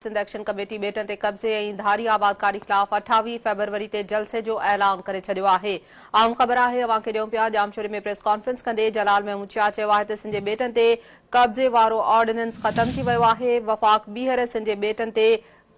Sindh action committee ٻيٽن تي قبضي ۽ ڌاري آبادڪاري خلاف اٺاويهه فيبروري تي جلسي جو اعلان ڪري ڇڏيو آهي. عام خبر آهي اوهان کي ڏيون پيا. ڄامشوري ۾ پريس ڪانفرنس ڪندي جلال محمود شاهه چيو آهي ته سن جي ٻيٽن تي قبضي وارو آرڊيننس ختم ٿي ويو آهي، وفاق ٻيهر سن جي ٻيٽن تي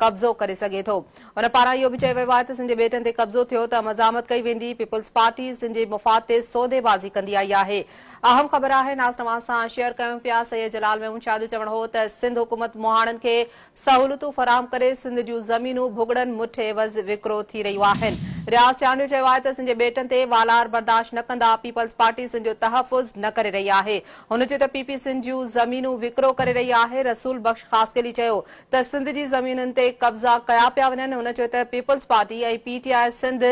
قبضو ڪري سگهي ٿو. ان پاران اهو به چيو ويو آهي ته سن جي ٻيٽن تي قبضو ٿيو ته مزاحمت ڪئي ويندي، پيپلزپارٽي سن جي مفاد تي سودي بازي ڪندي آئي آهي. اهم خبر آهي ناز توهان سان شيئر ڪيون پيا سيد جلال ميمون شاهه جو چوڻ هو ته سنڌ حڪومت مهاڻن کي سهولتون فراهم ڪري سنڌ جون زمينون ڀڳڙن مٺ عيوض وڪرو ٿي رهيون آهن رياض چانڊيو چيو آهي ته سنڌ جي ٻيٽن تي والار برداشت نه ڪندا پيپلز پارٽي سنڌ جو تحفظ نه ڪري رهي آهي هن چيو ته پي پي سنڌ جون زمينون وڪرو ڪري رهي آهي رسول بخش خاصخيلي چيو ته سنڌ جي زمينن تي قبضا ڪيا پيا وڃن هن چيو ته peoples party ۽ P T I Sindh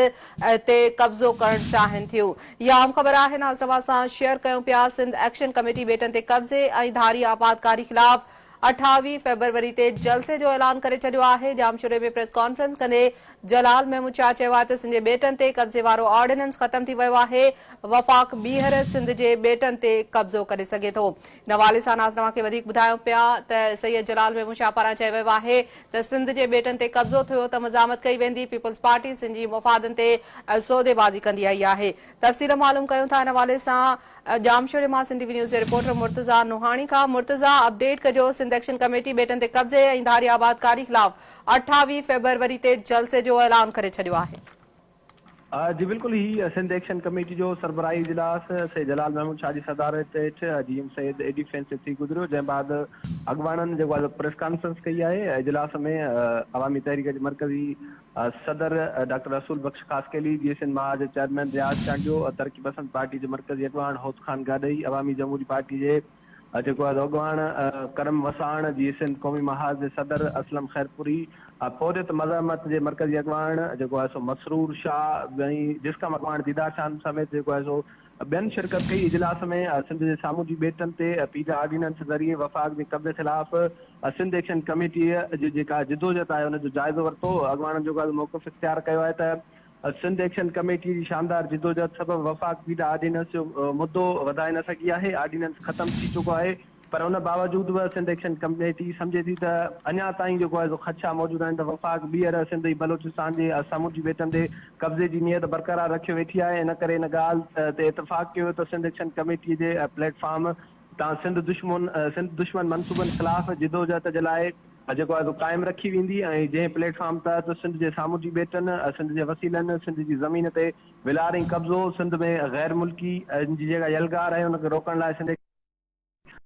تي قبضو ڪرڻ چاهين ٿيون يا اهم خبر آهي ناز توهان سان شيئر ڪيون پيا سنڌ ايڪشن ڪميٽي ٻيٽن تي قبضي ۽ ڌاري آبادڪاري خلاف اٺاويهه فيبروري تي جلسي جو اعلان ڪري ڇڏيو آهي ڄامشوري ۾ پريس ڪانفرنس ڪندي جلال محمود شاهه چيو آهي ته سنجي ٻيٽن تي قبضي وارو آرڊيننس ختم ٿي ويو آهي وفاق ٻيهر سنڌ جي ٻيٽن تي قبضو ڪري سگهي ٿو ان حوالي سان ناز توهان کي وڌيڪ ٻڌايون پيا ته سيد جلال محمود شاهه پاران چيو ويو آهي ته سنڌ جي ٻيٽن تي قبضو ٿيو ته مزاحمت ڪئي ويندي، پيپلز پارٽي سنڌ جي مفادن تي سوديبازي ڪندي آئي آهي. تفصيل معلوم ڪيون ٿا ان حوالي سان ڄامشوري مان سنڌي وي نيوز جي رپورٽر مرتضيٰ نوحاڻي کان مرتضيٰ اپڊيٽ ڪجو سنڌ ايڪشن ڪميٽي ٻيٽن تي قبضي ۽ ڌاري آبادڪاري خلاف اٺاويهه فيبروري تي جلسي جو اعلان ڪري ڇڏيو آهي. جي بلڪل هي سنڌ ايڪشن ڪميٽي جو سربراهي اجلاس سيد جلال محمود شاهه جي صدارت هيٺ جي ايم سيد اي ڊفينس تي ٿي گذريو جنهن بعد اڳواڻن جيڪو آهي پريس ڪانفرنس ڪئي آهي اجلاس ۾ عوامي تحريڪ جي مرڪزي صدر ڊاڪٽر رسول بخش خاصخيلي جي سنڌ مها جي چيئرمين رياض چانڊيو ترقي پسند پارٽي جي مرڪزي اڳواڻ هوت خان گاڏهي عوامي جمهوري پارٽي جي ها جيڪو آز اڳواڻ ڪرم وساڻ جي سنڌ قومي محاذ جي صدر اسلم خيرپوري ها پورهيت مزاحمت جي مرڪزي اڳواڻ جيڪو آهي سو مسرور شاهه ۽ جسقم اڳواڻ ديدار شاهه سميت جيڪو آهي سو ٻين شرڪت ڪئي اجلاس ۾ سنڌ جي سامونڊي ٻيٽن تي پيجا آرڊيننس ذريعي وفاق جي قبضي خلاف سنڌ ايڪشن ڪميٽي جي جيڪا جدوجھد آهي ان جو جائزو ورتو اڳواڻن جيڪو آهي موقف اختيار ڪيو آهي ته سنڌ ايڪشن ڪميٽي جي شاندار جدوجهد سبب وفاق پيڊا آرڊيننس جو مدو وڌائي نه سگهي آهي، آرڊيننس ختم ٿي چڪو آهي پر ان باوجود به سنڌ ايڪشن ڪميٽي سمجهي ٿي ته اڃا تائين جيڪو آهي سو خدشا موجود آهن ته وفاق ٻيهر سنڌ ۽ بلوچستان جي سامونڊي ٻيٽن تي قبضي جي نيت برقرار رکي ويٺي آهي ان ڪري ان ڳالهه تي اتفاق ڪيو ويو ته سنڌ ايڪشن ڪميٽي جي پليٽ فارم تان سنڌ دشمن سنڌ دشمن منصوبن خلاف جدوجهد جي لاء جيڪو آهي سو قائم رکي ويندي ۽ جنهن پليٽ فارم تحت سنڌ جي سامونڊي ٻيٽن، سنڌ جي وسيلن، سنڌ جي زمين تي ولار ۽ قبضو، سنڌ ۾ غير ملڪي ن جي جيڪا يلغار آهي ان کي روڪڻ لاء سنڌ ايڪشن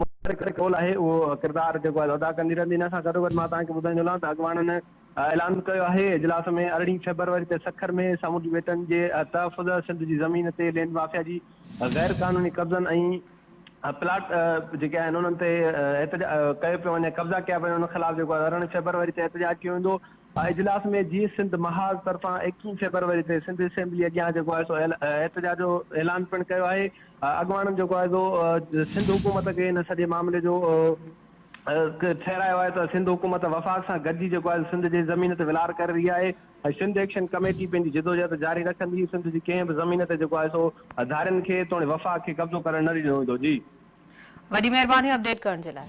متحرڪ جو رول آهي اهو ڪردار جيڪو آهي ادا ڪندي رهندي. ان سان گڏوگڏ مان توهان کي ٻڌائيندو هلان ته اڳواڻن اعلان به ڪيو آهي اجلاس ۾ ارڙهين فيبروري تي سکر ۾ سامونڊي ٻيٽن جي تحفظ، سنڌ جي زمين تي لينڊ مافيا جي. غير قانوني قبضن ۽ پلاٽ جيڪي آهن انهن تي احتجاج ڪيو پيو وڃي، قبضا ڪيا پيا وڃن، ان خلاف جيڪو آهي ارڙهن فيبروري تي احتجاج ڪيو ويندو. اجلاس ۾ جيئي سنڌ محاذ طرفان ايڪيهن فيبروري تي سنڌ اسيمبلي اڳيان جيڪو آهي سو احتجاج جو اعلان پڻ ڪيو آهي. اڳواڻن جيڪو آهي سو سنڌ حڪومت کي ان سڄي معاملي جو ٺهرايو آهي ته سنڌ حڪومت وفاق سان گڏجي جيڪو آهي سنڌ جي زمين تي ولار ڪري رهي آهي ۽ سنڌ ايڪشن ڪميٽي پنهنجي جدوجهد جاري رکندي، سنڌ جي ڪنهن به زمين تي جيڪو آهي سو هزارين کي توڻي وفاق کي قبضو ڪرڻ نه ڏنو ويندو جي. وڏي مهرباني اپڊيٽ ڪرڻ جي لاء.